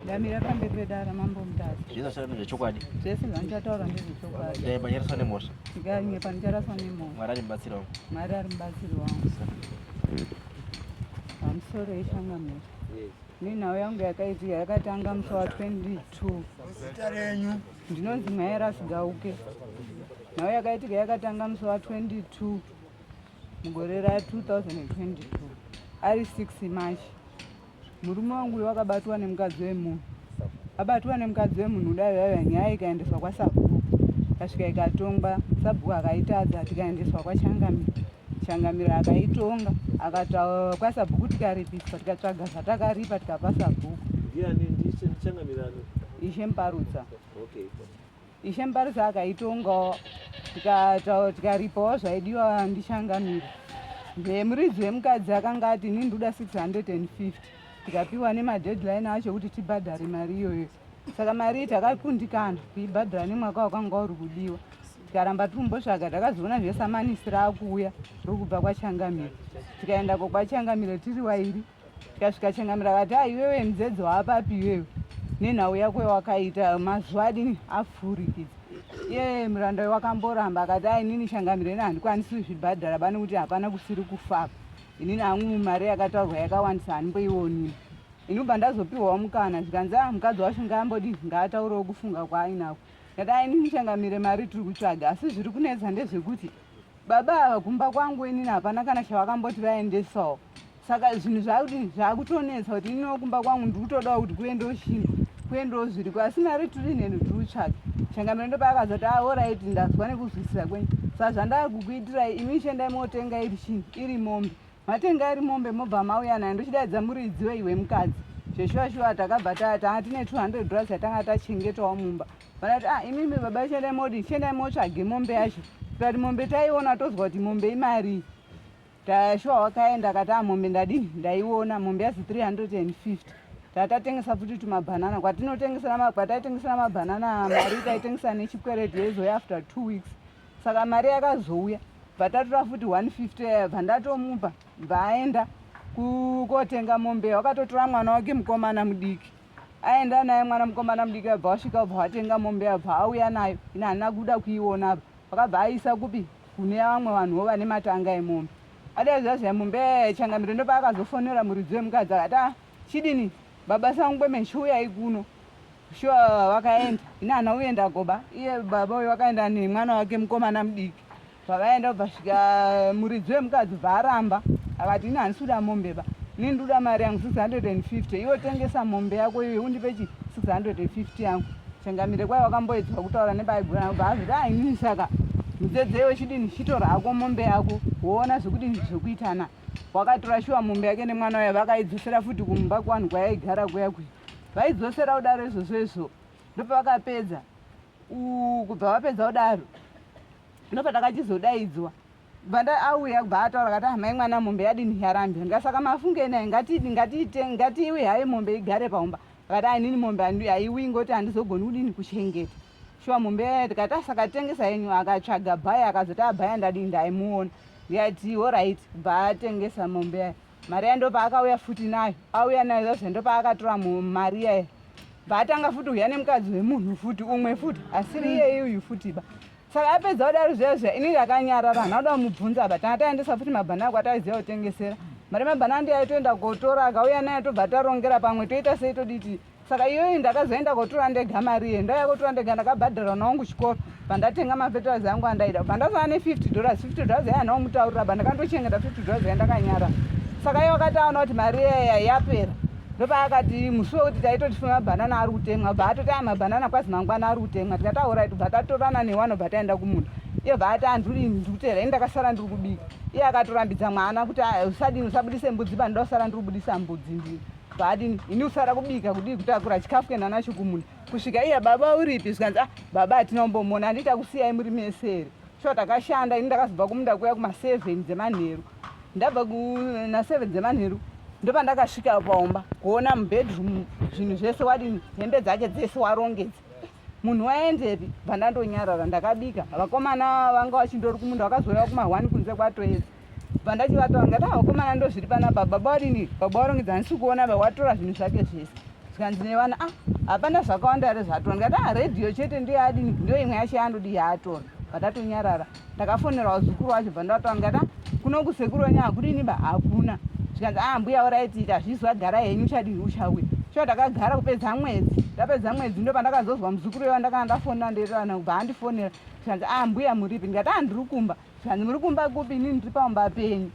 Ndamira pamberi pedara mambo mutasa. Zvese zvachata ndezvechokwadi. Zvese zvandichataura ndezvechokwadi. Dai panyaraswa nemhosva. Ndikainge panicharaswa nemhosva. Mwari ari mubatsiri wangu. Mwari ari mubatsiri wangu. Pamusoro yeshanga mhosva. Nenhau yangu yakaitika yakatanga musi wa 22. Zita renyu. Ndinonzi Mhaya Rasigauke. Nhau yakaitika yakatanga musi wa 22 mugore ra 2022 ari 6 March. Murume wangu uyo wakabatwa nemukadzi wemunhu. Abatwa nemukadzi wemunhu kudai yaiva nyaya ikaendeswa kwasabhuku. Kasvika ikatongwa, sabhuku akaitadza tikaendeswa kwachangamira. Changamira akaitonga, akataura kwasabhuku tikaripiswa, tikatsvaga zvatakaripa tikapa sabhuku. Ndiani ndiChangamira? Ishe Mparutsa. Okay. Ishe Mbarisa akaitongawo tikaripawo zvaidiwa ndichangamira then muridzi wemukadzi akanga ati ini ndoda 650 tikapiwa nemadeadline acho kuti tibhadhare mari iyoyo saka mari iyi takakundikana kuibhadhara nemwaka wakanga uri kudiwa tikaramba tikumbotsvaga takazoona zvesamanisi raakuuya rokubva kwachangamire tikaendako kwachangamire tiri wairi tikasvika changamira akati a ah, iwewe mudzedzo waapapi iwewe nenhau yako yawakaita mazuva adini afurikidza ye muranda uyo wakamboramba akati a inini changamira ini handikwanisi kuzvibhadhara bane kuti hapana kusiri kufaka inini hangu mari yakataurwa yakawandisa handimboionini ini ubva ndazopiwawo mukana zvikanzi a mukadzi wacho ngaambodii ngaataurewo kufunga kwaainako ndati a inini changamire mari tiri kutsvaga asi zviri kunetsa ndezvekuti baba ava kumba kwangu inini hapana kana chavakamboti vaendesawo saka zvinhu zvakuti zvakutonetsa kuti iniwo kumba kwangu ndiri kutodawo kuti kuve ndoshinga kuve ndozviri ko asi mari tiri nhenhu tiri kutsvaga changamiro ndopaakaza kuti aoraiti ah, ndazwa nekuzwisisa kwenyu sa zvandava kukuitirai imi ishendai motenga iri chinhu iri mombe matenga iri mombe mobva mauya nayo ndochidaidza muridziwo iwe mukadzi zveshuwa shuwa takabva taa tanga tine 200 dollars yatanga tachengetawo mumba vanati ah imimi baba ishendai modi ishendai motsvage mombe yacho tikati mombe taiona tozwa kuti mombe imarii Taya shuwa wakaenda akati a ah, mombe ndadii ndaiona mombe yazi 350 tatatengesa futi tumabhanana kwatinotengesera kwataitengesera mabhanana mari taitengesera nechikwereti yaizoya after two weeks saka mari yakazouya bvatatora futi 150 yaya bvandatomupa bvaaenda kukotenga mombe wakatotora mwana wake mukomana mudiki aenda naye mwana mukomana mudiki abva wasvika ubva watenga mombe abva auya nayo ini handina kuda kuiona apa vakabva aisa kupi kune vamwe vanhuwo vane matanga emombe adai zvazvai mombe changamiro ndopaakazofonera muridzi wemukadzi akati a ah, chidini baba sangu kwemene chiuyai kuno shuwa vakaenda ini handina kuenda goba iye baba uyo vakaenda nemwana wake mukomana mudiki Pavaenda kubva svika muridzi wemukadzi bva aramba akati ini handisi kuda mombe ba ini ndikuda mari yangu 650 iwe tengesa mombe yako iwe undipe chi 650 yangu changamire kwai wakamboedzwa kutaura nebaigura yangu bva azviti ainini saka mudzedze iwe chidini chitora hako mombe yako woona zvekudini zvekuitana wakatora shuwa mombe yake nemwana uya vakaidzosera futi kumba kuvanhu kwayaigara kuya kuya vaidzosera kudaro izvozvo izvo ndopavakapedza kubva vapedza kudaro ndopatakachizodaidzwa bvanda auya kubva ataura kati amai ah, mwana mombe yadini yarambira ndikasaka mafunge naye ngatidi ngatiite ngatiiwi haye mombe igare paumba akati ainini ah, mombe haiwi ngoti handizogoni kudini kuchengeta shuwa mombe yaye tikati asaka ah, tengesa yenyu akatsvaga bhaya akazoti abhaya ndadini ndaimuona ndikati horaiti bva atengesa mombe yaye Maria ndopaakauya futi nayo auya nayo zazve ndopaakatora mari yaye baatanga futi uya nemukadzi wemunhu futi umwe futi asiri mm. iyeye uyu futi ba saka apedza kudaro zviya zviya ini ndakanyarara hana kuda kumubvunza ba tanga taendesa futi mabhanana kwataiziva kutengesera mari mabhanana ndiyaitoenda kotora akauya nayo tobva tarongera pamwe toita sei toditi saka iyoyi ndakazoenda kotora ndega mari iye ndauya kotora ndega ndakabhadhara mwana wangu chikoro pandatenga mafeterazi angu andaida pandazova ne50 dollars 50 dollars yaya ndaomutaurira ba ndakandochengeta 50 dollars ya ndakanyara saka iye wakati aona kuti mari iyaya yapera ndopaakati musi wekuti taitoti fuma mabhanana ari kutemwa bva atoti aya mabhanana kwazi mangwana ari kutemwa tikati aurayi tobva tatorana newano bva taenda kumunda iye bva ati anduri ndikutera ini ndakasara ndiri kubika iye akatorambidza mwana kuti usadini usabudise mbudzi panoda kusara ndiri kubudisa mbudzi ndini Paadini ini kusara kubika kudii kutakura chikafu kenda nacho kumunda kusvika iya baba uripi zvikanzi ah baba hatina kumbomona handiti takusiyai muri mese here shuwa takashanda ini ndakazobva kumunda kuya kumaseven dzemanheru ndabva naseven dzemanheru ndopandakasvika paumba kuona mubedroom zvinhu zvese wadini hembe dzake dzese warongedza munhu waendepi bva ndandonyarara ndakabika vakomana vanga vachindori kumunda vakazouya kuma one kunze kwatoedza bva ndachivataura ndati ah, vakomana ndo zviri pana baba baba wadini baba warongedza handisi kuona ba watora zvinhu zvake zvese zvikanzi nevana ah hapana zvakawanda here zvatora ndikati ah radio chete ndiyo adini ndiyo imwe yacho yandodi yaatora vatatonyarara ndakafonera wazukuru wacho bva ndavataura ndikata kuno kusekuru wenyu hakunini ba hakuna zvikanzi a ah, mbuya oraiti ita hazvizi vagara henyu uchadii uchauya sho ndakagara kupedza mwedzi ndapedza mwedzi ndo pandakazozwa muzukuru wewa ndakana ndafonera ndeirana kubva andifonera zvikanzi a ah, mbuya muripi ndikati a ah, ndiri kumba zvikanzi muri kumba kupi inini ndiri pamumba penyu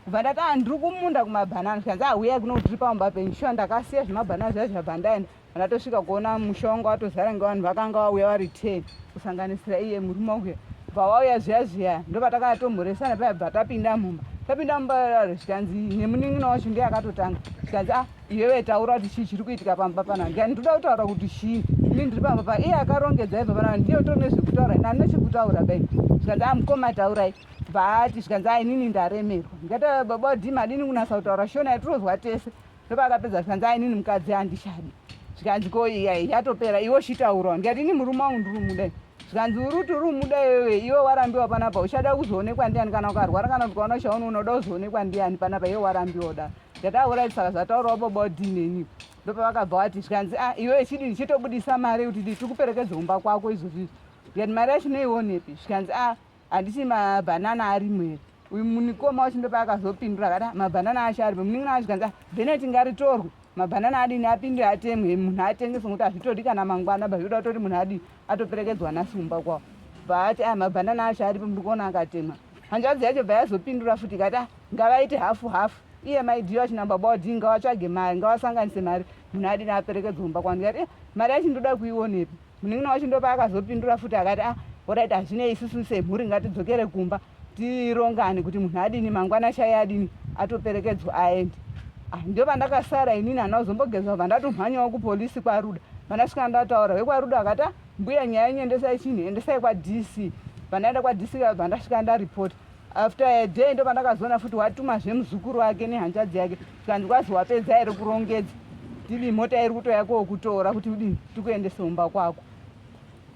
kubva ndati a ndiri kumunda kumabhanana zvikanzi a huyai kuno kuti tiri pamumba penyu sho ndakasiya zvemabhanana zviya zvabva ndaenda Anatosvika kuona musha wangu watozara ngevanhu vakanga vauya vari ten kusanganisira iye murume uya bva wauya zviya zviya ndopatakanga tomhoresana paya bva tapinda mumba tapinda mumba yaro zvikanzi nemunin'ina wacho ndiye akatotanga zvikanzi ah iwewe taura kuti chii chiri kuitika pamba panaa ndikani ndoda kutaura kuti chii ini ndiri pamba pa iye akarongedza ibva panaa ndiye utori nezvekutaura ini andina chekutaura bai zvikanzi ah mukoma taurai bva ati zvikanzi ah inini ndaremerwa ndikati baba wadii madini kunasa kutaura shona yatirozwa tese ndopakapedza zvikanzi a inini mukadzi handichadi zvikanzi ko iya ichatopera iwe uchitaurwa ndikati ini murume wangu ndiri muda zvikanzi uri kuti uri muda iwewe iwe warambiwa panapa uchada kuzoonekwa ndiani kana ukarwara kana kuti ukaona uchaunoona uda kuzoonekwa ndiani panapa iwe warambiwa da ndataura saka zvataurawo baba udini ini ndopavakabva wati zvikanzi a iwe chidini chitobudisa mari kuti tikuperekedze kumba kwako izvozvizvi ndikati mari yacho noionepi zvikanzi a handisi mabhanana arimo here uyu munikoma wacho ndopaakazopindura akati ah, mabhanana acho arimo munin'ina wacho kanzi ah, bheneti ngaritorwe mabhanana adini apinde atemwe munhu atengeswe ngokuti hazvitodi kana mangwana ba zvinoda kutoti munhu adini atoperekedzwa nhasi kumba kwavo baati aya ah, mabhanana acho aripo muri kuona akatemwa hanzvadzi yacho bva yazopindura futi ikati ah, ngavaite hafu hafu iye maidhiyo acho nababa wadii ngavatsvage mari ngavasanganise mari munhu adini aperekedzwa kumba kwanu ikati eh, mari yacho ndoda kuionepi Munin'ina wacho ndopaakazopindura futi akati ah oraiti hazvinei isusu semhuri ngatidzokere kumba tirongane kuti munhu adini mangwana shaye adini atoperekedzwa aende ah, ndio vandakasara inini hana kuzombogezwa bva ndatomhanyawo kupolisi kwaruda vandasvika ndataura vekwaruda vakati ah, mbuya nyaya yenyu endesai chinhu endesai kwadc pandaenda kwadc vabva ndasvika ndaripota after a day ndopandakazoona futi watuma zvemuzukuru wake nehanzvadzi yake zvikanzi kwazi wapedza here kurongedza tili mota iri kutoya koo kutora kuti udini tikuendese umba kwako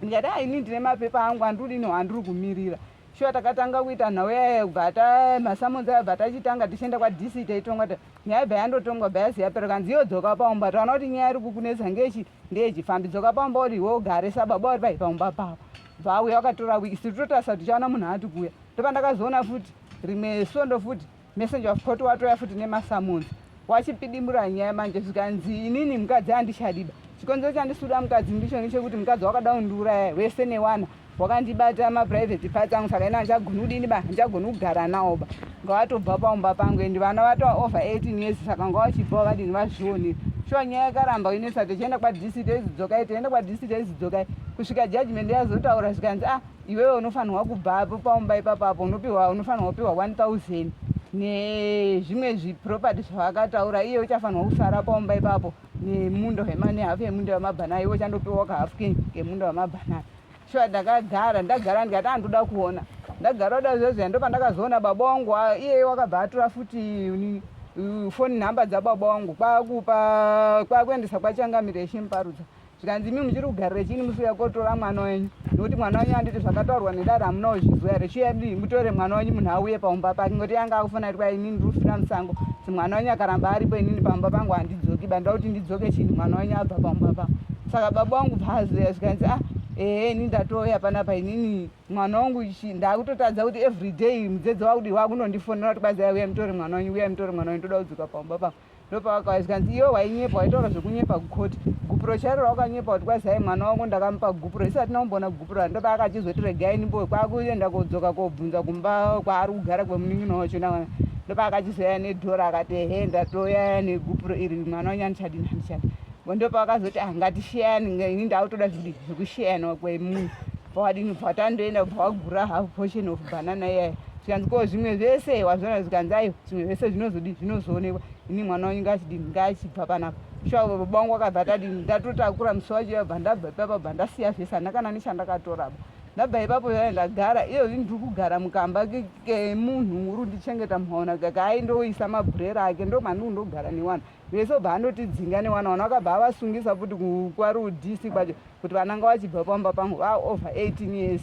ndikati a ini ndine mapepa angu andiudini wandiri kumirira shuwa takatanga kuita nhau yaye bva ta masamonzi ayo bva tachitanga tichienda kwadc taitongwa ta nyaya bva yandotongwa bva yazi yapera kanzi iyo dzoka paumba taona kuti nyaya iri kukunetsa ngechi ndiye chifambi dzoka pamba uri iwe ugare sababa uri pai pamba papa vauya wakatora wiki siri totarisa kuti tichaona munhu ati kuuya ndopandakazoona futi rimwe svondo futi messenger of court watoya futi nemasamonzi wachipidimura nyaya manje zvikanzi inini mukadzi handichadiba chikonzero chandisuda mukadzi ndicho nechekuti mukadzi wakada kundiuraya wese newana wakandibata maprivate parts angu saka ini handichagoni kudini ba handichagoni kugara nawo ba ngawatobva paumba pangu and vana vatova over 18 years saka ngawachibva wakadini vazvione shuwa nyaya yakaramba inesa tichienda kwadc teizidzokai tienda kwadc teizidzokai kusvika judgment yazotaura zvikanzi ah iwewe unofanirwa kubva apo paumba ipapo apo unopiwa unofanirwa kupiwa 1000 nezvimwe zviproperty zvavakataura iye uchafanirwa kusara paumba ipapo nemunda wemane hafu yemunda wemabhanana iwe chandopiwa kahafu ke kemunda wemabhanana shuwa ndakagara ndagara ndikati andoda kuona ndagara oda zvezveya ndo pandakazoona baba wangu iyeye wakabva atora futi nini foni nhamba dzababa wangu kwakupa kwakuendesa kwachangamireshi muparudza zvikanzi imi muchiri kugarira chini musiya kotora mwana wenyu nokuti mwana wenyu anditi zvakataurwa nedada hamuna kuzviziva here chiyadi mutore mwana wenyu munhu auye paumba pake ngoti yanga akufana iri kwainini ndiri kufira musango si mwana wenyu akaramba aripo inini pamba pangu handidzoki banda kuti ndidzoke chini mwana wenyu abva paumba pangu saka baba wangu bvazoya zvikanzi ah ehe ini ndatouya panapa inini mwana wangu chi ndakutotadza kuti every day mudzedzi wakudi wakunondifonera kuti kwazaya uya mutore mwana wenyu uya mutore mwana wenyu toda kudzoka pamba pangu ndopavakauya zvikanzi iwe wainyepa waitaura zvekunyepa kukoti gupuro chairo raukanyepa kuti kwazai mwana wangu ndakamupa gupuro isati naumboona gupuro ra ndopaa akachizoti regai ndimbo kwakuenda kodzoka kobvunza kumba kwaari kugara kwemunin'ina wacho nawana ndopaa akachizoyaya nedhora akati ehe ndatoyaya negupuro iri mwana wanyu andichadini andichadi ndopaa akazoti ah ngatisheyani ini ndautoda zvidi zvekusheyana kwemunhu pawadini bva watandoenda bva wagura half portion of banana iyaya zvikanzi ko zvimwe zvese wazvona zvikanzi aiwa zvimwe zvese zvinozodii zvinozoonekwa ini mwana wanyu ngaachidini ngaachibva panapa shuwa baba wangu akabva atadini ndatotakura musi wacho yabva ndabva ipapa bva ndasiya zvese handina kana nechandakatoraba ndabva ipapo yaya ndagara iyozvi ndiri kugara mukamba kemunhu muru ndichengeta mhaona kaka aindoisa mabhurera ake ndo mandiri kundogara newana vese obva andotidzinga newana wana wakabva avasungisa futi kwarudisi kwacho kuti vananga vachibva pamba pangu vaova 18 years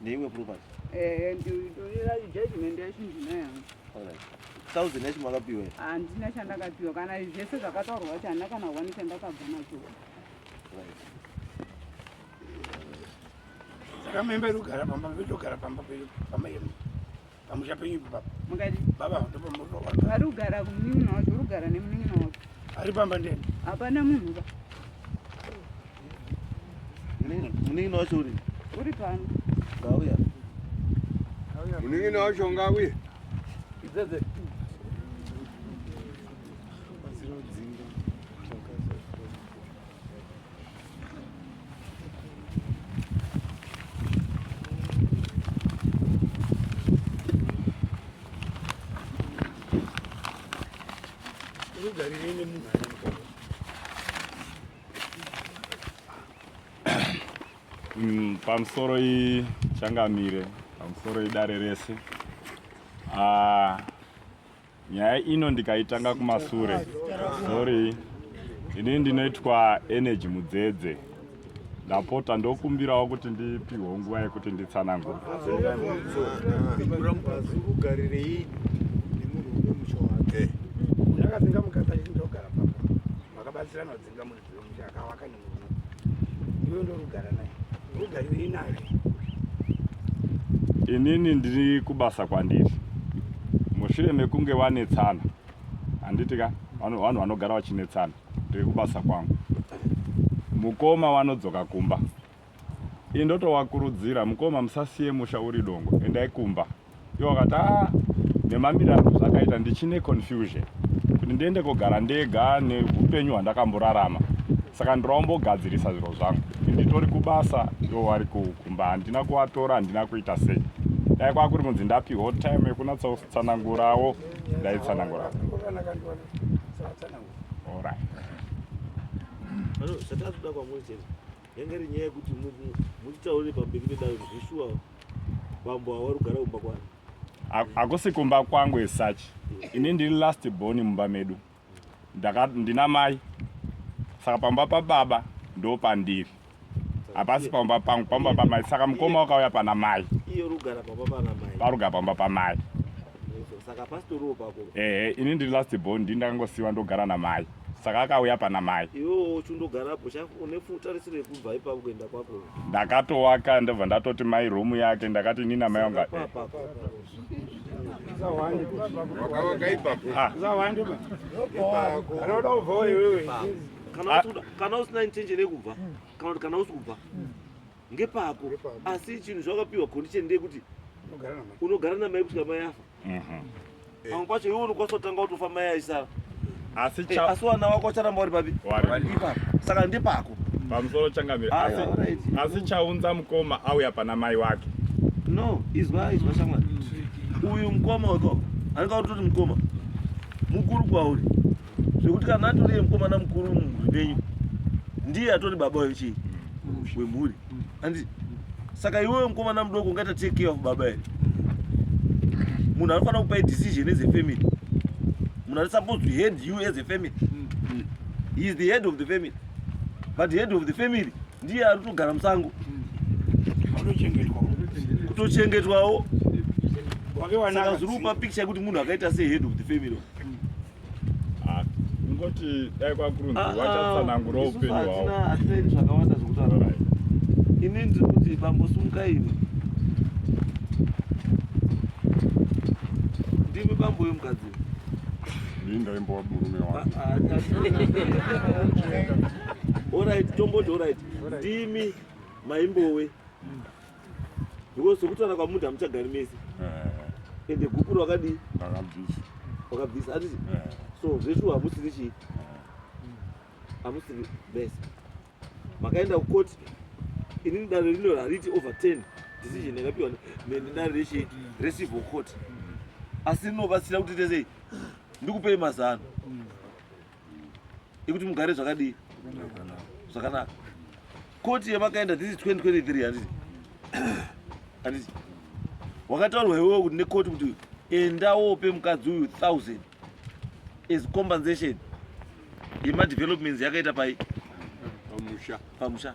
Ndeiwe property. Eh, ndinoira judgment yacho ndinayo. Alright. Thousand yacho makapiwa. Handina chandakapiwa kana zvese zvakataurwa kuti handina kana one chandakabva nacho. Right. Saka membe rugara pamba vedu gara pamba pedu pamba yemu. Pamusha penyu baba. Mukati. Baba ndopa muri ropa. Ari kugara kumunini wacho, uri kugara nemunini wacho. Ari pamba ndeni. Hapana munhu ba. Munini, munini wacho uri. Uri pano. Ngauya. Ngauya. Munini wacho ngauya. Idzedze. Mm, pamusoro ichangamire pamusoro idare rese ah, Nyaya ino ndikaitanga kumasure. Sorry. Ini ndinoitwa Energy Mudzedze. Ndapota ndokumbirawo kuti ndipihwe nguva yekuti nditsanangure. Ndakadzinga mukadzi achindogara papa. Makabatsirana kudzinga munhu. Ndokuti akavaka nemurume. Iwe ndorugara naye. Rugari uri naye. Inini ndiri kubasa kwandiri. Mushure mekunge wanetsana. Handiti ka? Vanhu vanhu vanogara vachinetsana. Ndiri kubasa kwangu. Mukoma wanodzoka kumba. Indotowakurudzira mukoma musasiye musha uri dongo. Endai kumba. iwo akati ah, nemamiriro angu zvakaita ndichine confusion kuti ndiende kogara ndega neupenyu hwandakamborarama saka ndiraombogadzirisa zviro zvangu nditori kubasa iwo wari kumba handina kuvatora handina kuita sei dai kwakuri kunzi ndapiwo time yekunatsatsanangurawo ndaitsanangurawo orit zvatazoda kwamuri chete yange iri nyaya yekuti muchitaure pamberi pedare zveshuwa Bambo awari kugara kumba kwani? Akusi kumba kwangu as such. Ini ndiri last born mumba medu. Ndaka ndina mai. Saka pamba pa baba ndo pandiri. Hapasi pamba pangu, pamba pa mai. Saka mukoma wakauya pana mai. Iyo rugara pamba pana mai. Parugara pamba pa mai. saka pastoriwo pako ehe ini ndiri last born ndi ndakangosiwa ndogara namai saka akauya pana mai iwewo chundogarapo une tarisiro yekubva ipapo kuenda kwako ndakatowaka ndobva ndatoti mai romu yake ndakati ini namai wanga kana usina intention yekubva kana kuti kana usi kubva ngepako Ngepako. asi chinhu zvakapiwa condition ndeyekuti Unogara namai. unogara namai kusvika mai afa Mhm. pamwe pacho iwe unokwanisa kutanga kutofa mai aisara asi Eh, cha asi wana wako ucharamba uri papi Wari. Ipapo. saka ndepako pamusoro changamire Ayo, asi alright. asi chaunza mukoma auya pana mai wake no izwa izwa shamwari uyu mukoma wekoko anenge atoti mukoma mukuru kwauri zvekuti kana atori mukomana mukuru mumhuri menyu ndiye atori baba wechii mm. wemhuri mm. andi saka iwewe mukomana mudoko ungaita take care of baba here munhu anofanira kupai decision as a family munhu ari supposed to head you as a family mm. he is the head of the family but head of the family ndiye ari kutogara musango kutochengetwawo saka zviri kupa picture yekuti munhu akaita sehead of the family Ah, kungoti dai kwakurunzi Ah, ah, vachatsanangura isusu upenyu hwavo hatina- hatina ini zvakawanda zvekutaura Alright. ini ndiri kuti bambosumuka ini ndimi bambo vemukadzi Ndini ndaimbowa murume wangu. orit tomboti orit ndimi maimbowe because sokutaura kwamuti hamuchagari mese eh. ende gupuro wakadii wakabvisa atiti eh. so zveshuwa hamusiri chii hamusiri bese makaenda kukoti inini dare rino hariti over 10 decision yakapiwa nedare rechi recivil court asi rinobatsira kuti tesei ndikupei mazano ikuti mugare zvakadii zvakanaka koti yamakaenda this is 2023 handiti handiti wakataurwa iwewo kuti nekoti kuti enda wope mukadzi uyu 1000 as compensation yemadevelopments yakaita pai pamusha pamusha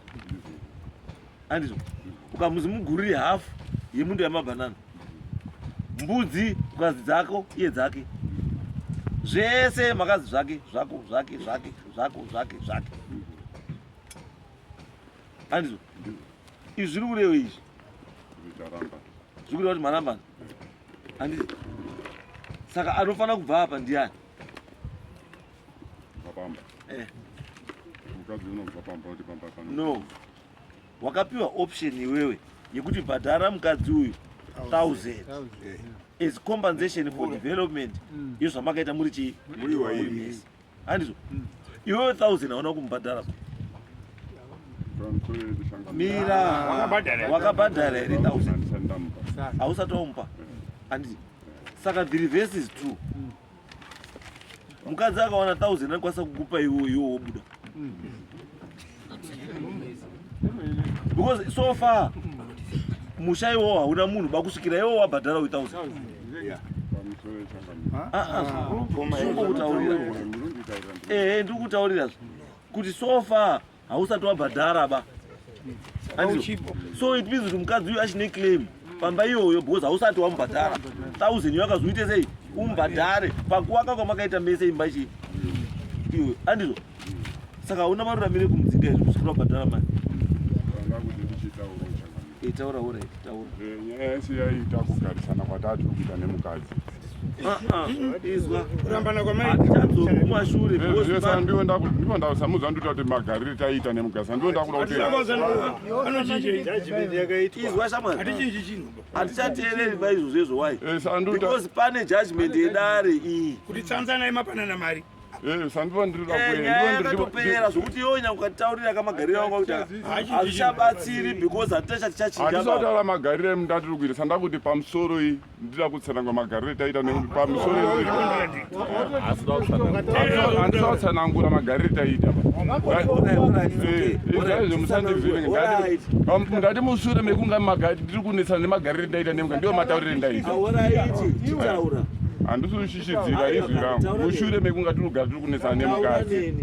andizvo ukamuzi mugurire hafu yemundo yamabhanana mbudzi ukazi dzako iye dzake zvese makazi zvake zvako zvake zvake zvako zvake zvake andizvo izvi zviri kurewe izvi zvikureva kuti marambana andizvo saka anofanira kubva apa ndiani Pamba. Eh. Mukadzi unobva pamba kuti pamba kana. No. Wakapiwa option iwewe yekuti bhadhara mukadzi uyu 1000 eh. as compensation for development mm. iyo zvamakaita muri chii muri waini handizvo mm. iwewe 1000 hauna kumubhadhara mira wakabhadhara here 1000 hausati wamupa eh. handiti saka the reverse is true mm. mukadzi akawana thousand anokwanisa kukupa iwo iwo wobuda because so far musha iwo hauna munhu bakusvikira iwo wabhadhara we thousand zvingoutaurira ehe ndiri kutaurira kuti so far hausati wabhadhara ba so it means kuti mukadzi uyu achine claim pamba iyoyo because hausati wamubhadhara thousand iyo akazoite sei umubhadhare pakuwaka kwamakaita mese imba chii iwe andizvo saka hauna maruramire kumudzinga izvo kusikuti wabhadhara mari Taura hure, taura. Eh, nyaya yese yaita kugarisana kwatatu kuita nemukadzi. Ah, ah, izwa. Kurambana kwamai. Atadzoka kumashure. Zvese eh, ndiwe ndaku ndiwe ndasamudza ndita kuti magarire taita nemukadzi. Ndiwe ndakuda kuti. Anochinja judgment yakaitwa. Izwa shamwari. Atichinji chinhu. Atichateereri ba izvo zvezvo why? Eh, Sanduta. Because pane judgment yedare iyi. Kuti tsanzana imapanana mari. Eh, sandiva ndiri eh, kuendaatopera zvokuti iwe nyanga ukataurira kamagariro anga kuti hazvichabatsiri because hatita chati chachinjaatisautaura magariro emundatiri kuita sandava kuti pamusoro iyi ndida kutsanangwa magariro etaita nekuti pamusoro handisa kutsanangura magariro etaita ndati mushure mekunga ndiri kunetsana nemagariro etaita nemga ndiwo matauriro endaita handisi zvidziva izvi rangu mushure mekunga tinogara tiri kunetsana nemukadzi eh.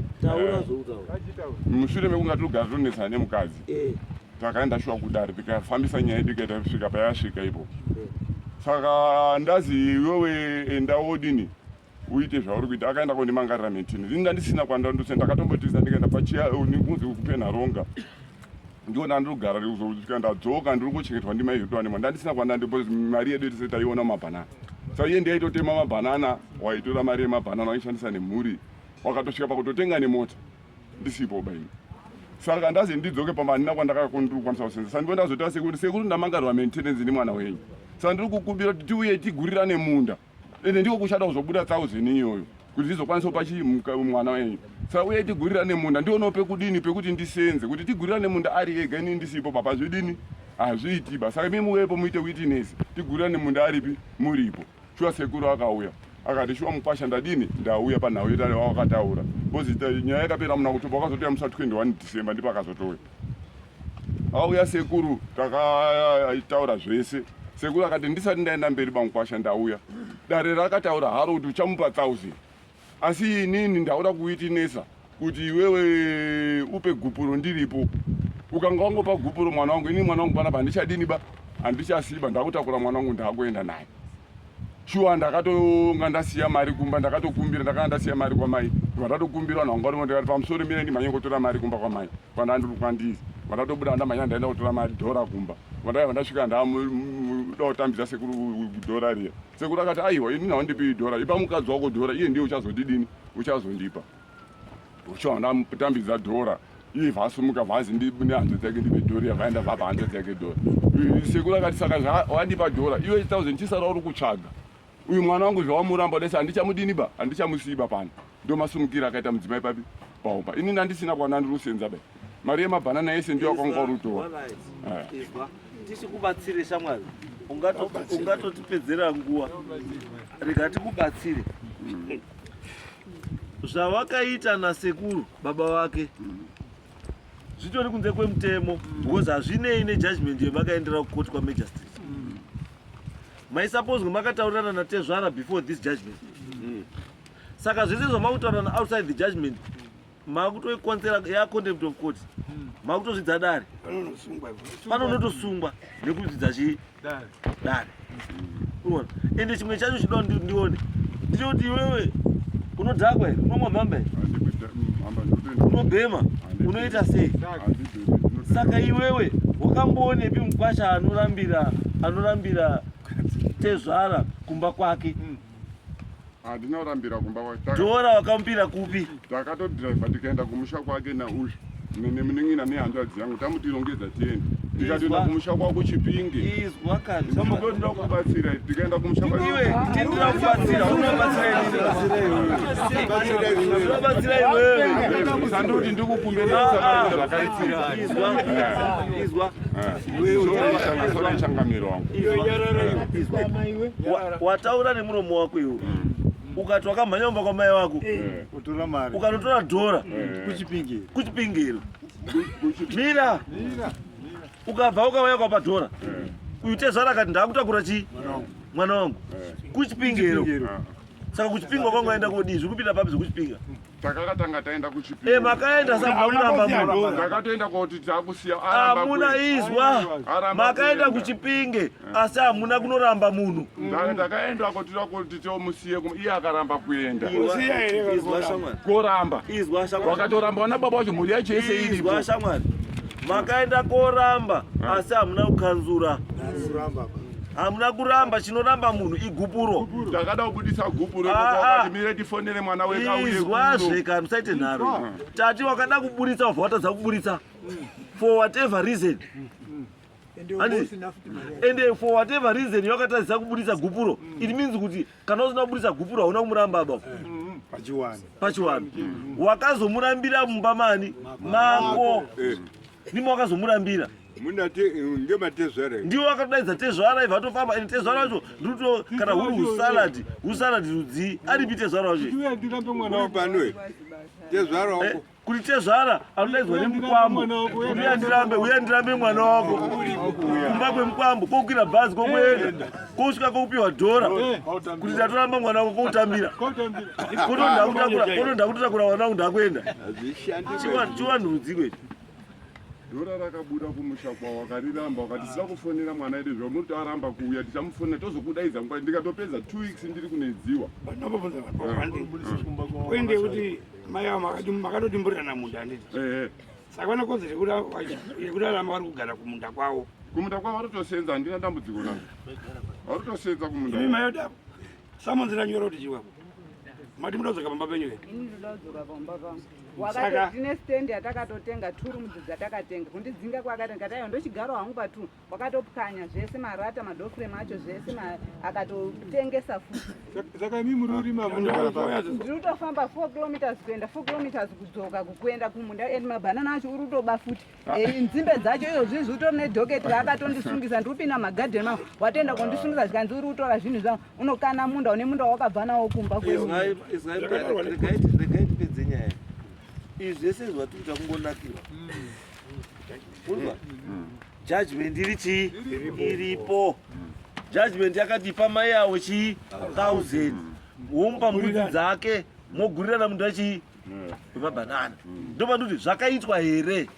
mushure mekunga tinogara tiri kunetsana nemukadzi eh. takaenda shuwa kudare tikafambisa nyaya yedu ikaita kusvika payasvika ipo eh. saka ndazi iwewe enda wodini uite zvauri kuita akaenda kondimangarira mitini ini ndandisina kwandandose ndakatombotiza ndikaenda pachiya kunzi kupenharonga ndiona andiri kugara ndikuzosvika ndadzoka ndiri kuchengetwa ndimai zvedu vanema ndandisina kwana ndipo mari yedu yese taiona mabhanana sa iye ndiyaitotema mabhanana waitora mari yemabhanana waishandisa nemhuri wakatosvika pakutotenga nemota ndisipo baini saka ndazi ndidzoke pamanina kwandakakondirikwanisa kusenza sa ndiondazotaura sekuri sekuri ndamangarwa maintenance nemwana wenyu sa ndiri kukumbira kuti tiuye tigurirane munda ende ndiko kushata kuzobuda thousand iyoyo kuti ndizokwanisa kupa chii mwana wenyu saka uye tigurira nemunda ndionawo pekudini pekuti ndisenze kuti tigurira nemunda ari ega ini ndisipo baba zvidini hazviiti ba saka mimuwepo muite witness tigurira nemunda aripi muripo shuwa sekuru akauya akati shuwa mukwasha ndadini ndauya panhau yetare wawakataura bcause nyaya yakapera muna kutoba wakazotoya musa 21 december ndipo akazotouya Auya sekuru takataura zvese. Sekuru akati ndisati ndaenda mberi bamukwasha ndauya. Dare rakataura haro kuti uchamupa 1000. Asi inini ndaura kuiti nesa kuti iwewe upe gupuro ndiripo. Ukanga wangopa gupuro mwana wangu ini mwana wangu panapa handichadini ba handichasiba ndakutakura mwana wangu ndakuenda naye. shuwa ndakatonga ndasiya mari kumba ndakatokumbira ndakanga ndasiya mari kwamai ndibva ndatokumbira vanhu vanga varimwe ndikati pamusoro mine ndimhanye kutora mari kumba kwamai kwandandizi bva ndatobuda ndamhanya ndaenda kutora mari dhora kumba bva ndaiva ndasvika ndamuda kutambidza sekuru dhora riya sekuru akati aiwa ini nawo ndipi dhora ipa mukadzi wako dhora iye ndiye uchazondidini uchazondipa Ucho ndamutambidza dhora iye vasimuka vhazi ndibune hanzva dzake ndipe dhora yavaenda vapa hanzva dzake dhora sekuru akati saka zvawandipa dhora iwe thousand chisara uri kutsvaga uyu mwana wangu zvawamuramba dese handichamudini ba handichamusiiba pano ndo masumukira akaita mudzimai papi paumba ini ndandisina kwana ndirusenza ba mari yemabhanana yese ndiyo akwanga urutora tisi kubatsire shamwari ungatotipedzera nguva rega tikubatsire zvavakaita nasekuru baba vake zvitori kunze kwemutemo because hazvinei nejudgment yevakaendera kukoti kwamagistrate maisapozwe makataurirana natezvara before this judgment saka zvese zvamakutaurana outside the judgment makutoikonzera ya contempt of court hmm. makutozvidza dare pano unotosungwa nekuzvidza chii dare uona ende chimwe chacho chinoda kuti ndione ndinoti iwewe unodhakwa here unomwa mhamba here unobhema unoita sei saka iwewe wakamboonepi mukwasha anorambira anorambira tezvara kumba kwake hmm. handina kurambira kumba kwake dora wakamupira kupi takatodriva tikaenda kumusha kwake nauyu nene muningina nehanzvadzi yangu tamutirongedza tiende tikatoenda kumusha kwako chipinge sambokotoda kubatsira tikaenda kumusha kwaiwe tindira kubatsira unobatsira inobatsira iwewe sandoti ndikukumbiraizwa wataura nemuromo wako iwo ukati wakamhanya kumba kwamai wako ukanotora dhora kuchipingiro mira ukabva ukauya kwapa dhora uyu tezvara akati ndaakutakura chii mwana wangu kuchipingiro saka kuchipinga kwangu aenda kodii zvikupinda papi zvekuchipinga mm. Takanga tanga taenda kuchipiko. Eh, makaenda sakuramba muramba. Ndakatoenda koti takusiya aramba. Hamuna izwa. Makaenda kuchipinge eh. asi hamuna kunoramba munhu. Ndakaenda koti koti tomusiye kuma iye akaramba kuenda. Usiya here izwa shamwari. Koramba. Izwa shamwari. Wakatoramba wana baba wacho mhuri yacho yese iripo. Izwa shamwari. Makaenda koramba eh. asi hamuna kukanzura. Kuramba. hamuna kuramba chinoramba munhu igupuro takada kubudisa gupuro ah, ah. mire tifonere mwana wekaizwazve ka musaite nharo tati wakada kuburitsa wabva watadza kuburitsa for whatever reason ende for whatever reason yakatadzisa kuburitsa gupuro it means kuti kana usina kuburitsa gupuro hauna kumuramba baba pachiwani pachiwani wakazomurambira mumba mani mako eh. nimo wakazomurambira ndiwo vakatodaidza tezvara iva atofamba and tezvara wacho ndikuto kana huri husaladi husaladi rudzii aripi tezvara wacho eh, kuti tezvara anodaidzwa nemukwambo uya ndirambe uya ndirambe mwana wako kumba kwemukwambo kokwira bhazi kokuenda kosvika kokupiwa dhora eh, kuti ndatoramba mwana wako koutambira kotondakutakura mwana wangu ndakuenda chivanhu rudzii kwecho Dora rakabuda kumusha kwavo wakariramba wakati sina kufonera mwana yedu zvamuti aramba kuuya tichamufonera tozokudaidza nguva ndikatopedza two weeks ndiri kunedziwa kuende kuti mai avo makatoti mburirana munda handiti saka vane konzo yekuti aramba vari kugara kumunda kwavo kumunda kwavo vatotosenza handina dambudziko navo vatotosenza kumunda imi mai yoda samonzira nyora kuti chiwako mati muda kudzoka pamba penyu here wakati tine stand yatakatotenga two rooms dzatakatenga kundidzinga kwakati ndikati aiwa ndochigaro hangu pa two wakatopwanya zvese marata madoframe acho zvese akatotengesa futisaka imi muri urima ndiri kutofamba four kilometers kuenda four kilometers kudzoka kuenda kumunda and mabhanana acho uri kutoba futi Eh, nzimbe dzacho izo zvinhu zvitori nedhoketi raakatondisungisa ndiri kupinda magadheni mangu watoenda kundisungisa zvikanzi uri kutora zvinhu zvangu unokana munda une munda wakabva nawo kumba kweregaitipedze nyaya izvi zvese zvatikuita kungonakirwa kunzwa judgment iri chii iripo judgment yakatipa mai avo chii thousand wompa mbudzi dzake mogurirana munhu achii wemabanana ndopandoti zvakaitwa here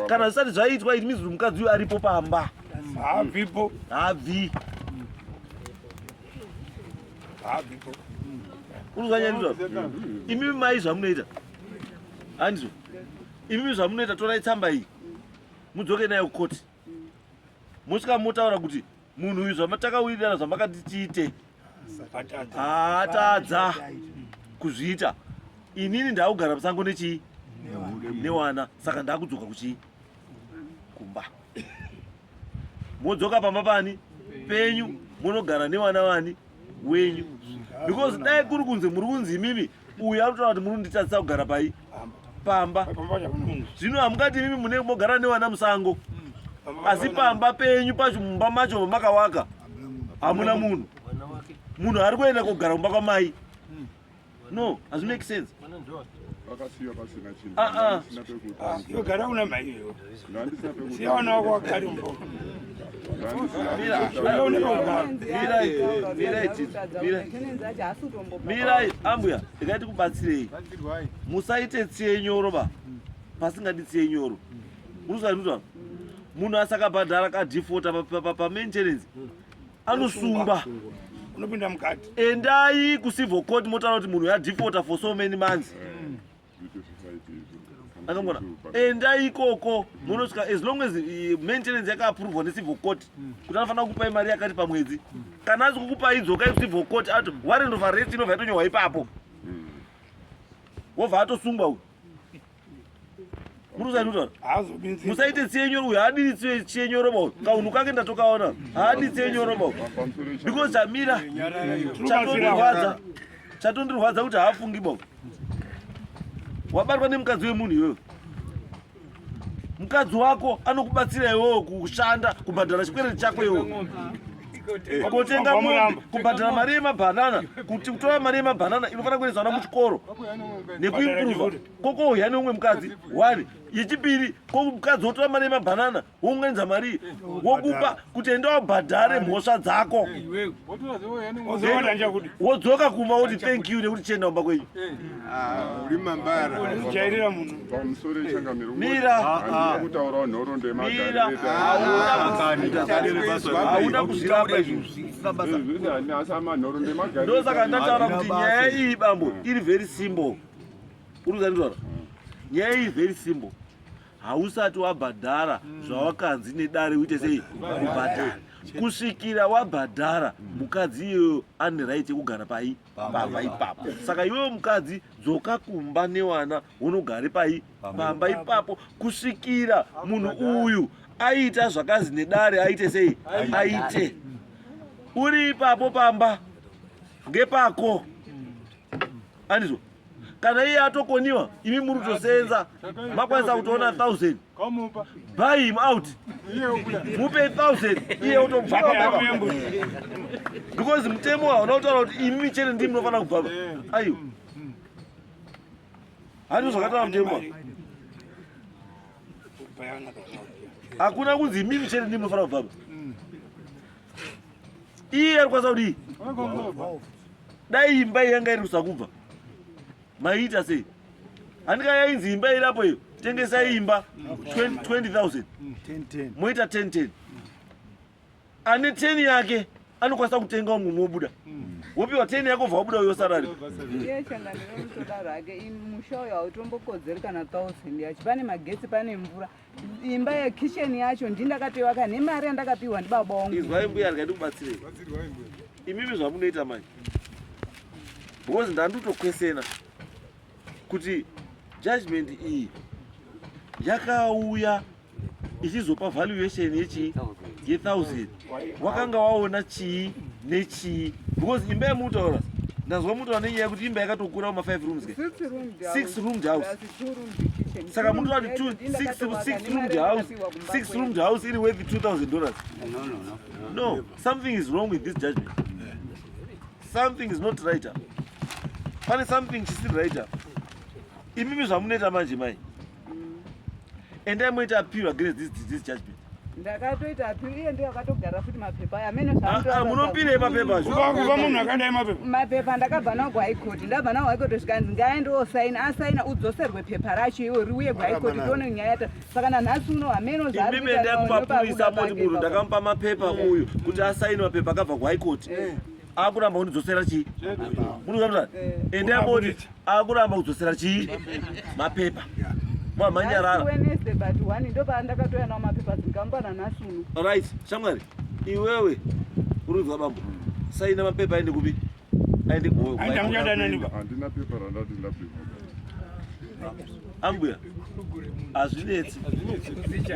kana zvisati zvaitwa it means kuti mukadzi uyu aripo pamba haabvipo haabvi haabvipo unozanyanizvavo imimi mai zvamunoita handizvo imimi zvamunoita torai tsamba iyi mudzoke nayo kukoti mosvika motaura kuti munhu uyu zvamatakawirirana zvamakati tiite atadza kuzviita inini ndakugara musango nechii newana saka ndakudzoka kuchii kumba modzoka pamba pani penyu monogara newana wani wenyu because dai kuri kunzi muri kunzi imimi uyu anotaura kuti munonditadzisa kugara pai pamba zvino hamungati imimi munenge mogara nevana musango asi pamba penyu pacho mumba macho vamakawaka hamuna munhu munhu ari kuenda kogara kumba kwamai no hazvimake sense vakasiya pasina chinhu ah, ah. mirai ambuya regai tikubatsirei musaite tsiye nyoro ba pasingadi tsiye nyoro unosaituta munhu asakabhadhara kadhifota pamaintenance anosungwa unopinda mukati endai kucivil court motaura kuti munhu yadhifota for so many months mm. anongona endai ikoko munosvika as long as eh, maintenance yakaaprovwa necivil court hmm. kuti anofanira kukupai mari yakati pamwedzi hmm. kana asi kukupai dzokai kucivil court ato warrant of arrest inobva yatonyorwa ipapo hmm. wobva atosungwa uyu musaite tsienyoro uyu haadiri tsienyoro ba kaunhu kake ndatokaona haadi tsienyoro ba because chamira chatondirwadza chatondirwadza kuti haafungi ba wabatwa nemukadzi wemunhu iyoyo mukadzi wako anokubatsira iwewo kushanda kubhadhara chikwereti chako iwo kotenga mombe kubhadhara mari yemabhanana kuti kutora mari yemabhanana inofanira kuendesana muchikoro nekuimprova kokouya neumwe mukadzi one yechipiri komukadzi wotora mari yemabhanana wounganidza mari wokupa kuti enda wabhadhare mhosva dzako wodzoka kumba woti thank you nekuti chienda kumba kwenyu hauna kuzvirapa izvozvindosaka ndataura kuti nyaya iyi bambo iri very simple urikuzanditaura nyaya iyi very simple hausati wabhadhara mm. zvawakanzi nedare uite sei kubhadhara kusvikira wabhadhara mukadzi iyoyo ane right yekugara pai pamba ipapo saka iwewo mukadzi dzoka kumba newana unogare pai pamba ipapo kusvikira munhu uyu aita zvakanzi nedare aite sei aite uri ipapo pamba ngepako andizvo kana iye atokoniwa imi muri kutosenza makwanisa kutoona thousand buy him out mupe thousand iye otobvaa because mutemo hauna kutaura kuti imi chete ndii munofanira kubvava aiwa handiwo zvakataura mutemo hakuna kunzi imimi chete ndii munofanira kubvava iye ari kwanisa kudii dai imba yanga iri kusakubva maiita sei handika yainzi imba irapo iyo tengesa imba 20000 moita 1010 ane 10 yake anokwanisa kutenga umwe mobuda wopiwa 10 yako bva wabuda uyo sarari musha uyo hautombokodzeri kana 1000 yacho pane magetsi pane mvura imba yekitchen yacho ndindakatoivaka nemari yandakapiwa ndibaba wangu izwai mbuya rega ndikubatsirei imimi zvamunoita manje because ndandutokwesena kuti judgment iyi yakauya ichizopa valuation yechii yethousand wakanga waona chii nechii because imba yamutaura ndazwa mutaura nenyaya yekuti imba yakatokura kuma five rooms ke six roomed house saka mutoati six roomed house six roomed house iri worth two thousand dollars no something is wrong with this judgment something is not right pane something chisiri right imimi zvamunoita manje mai mm. endai moita appeal against this, this judgment ndakatoita appeal iye ndiye akatogara futi mapepa aya amene ah, ah, munopirei mapepa zvokuva munhu akadai mapepa mapepa ndakabva nawo kuhigh court ndabva nawo high court zvikanzi ngaende osaina asaina udzoserwe pepa racho iwe riuye kuhigh court tione nyaya yata saka nanhasi uno hameno zvaaiimendai kumapurisa moti munhu ndakamupa mapepa uyu kuti asaine mapepa akabva kuhigh court eh. akuramba kundidzosera chii munoaa ende amboti akuramba kudzosera chii mapepa mamhanyarararit shamwari iwewe urinzwa bambo saina mapepa aende kupi aende ambuya hazvinetsi